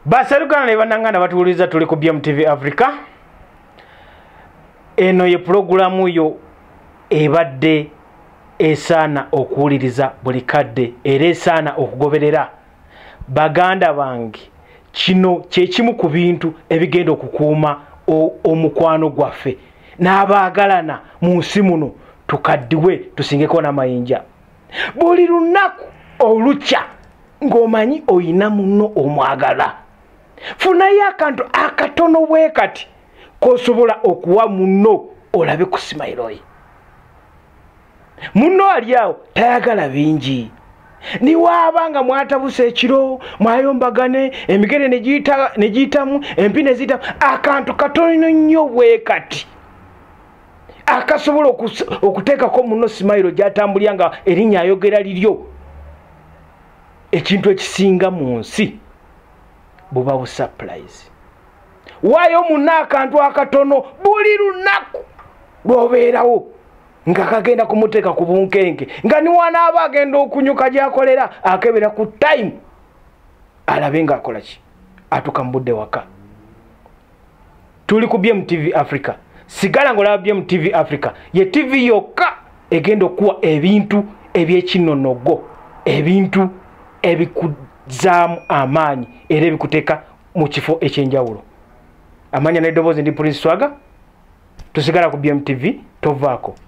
baserukana ne bananganda batuwuliriza tuli ku bmtv africa eno ye pulogulamu yo ebadde esaana okuwuliriza buli kadde era esaana okugoberera baganda bange kino kyekimu ku bintu ebigenda okukuuma omukwano gwaffe n'abaagalana mu nsi muno tukaddiwe tusingeko n'amayinja buli lunaku olukya ng'omanyi olina munno omwagala funayo akantu akatono bwe kati kosobola okuwa munno olabe ku simayiroyi munno ali awo tayagala bingi niwaaba nga mwatabusa ekiro mwayombagane emigere negiyitamu empi neziyitamu akantu katono nnyo bwe kati akasobola okuteekako muno simayiro gyatambulira nga erinnya ayogera liryo ekintu ekisinga mu nsi buba busapulayizi waayo muna akantu akatono buli lunaku lwobeerawo nga kagenda kumuteeka ku bunkenke nga niwanaaba agenda okunyuka gyakolera akebera ku time alabe ngaakola ki atuka mu budde waka tuli ku bm tv africa sigala ngaolaba bm tv africa ye tv yokka egenda okuwa ebintu ebyekinonogo ebintu ebikuzaamu amaanyi era ebikuteeka mu kifo ekyenjawulo amanya n'eddoboozi ndi prince swaga tusigala ku bm tv tovaako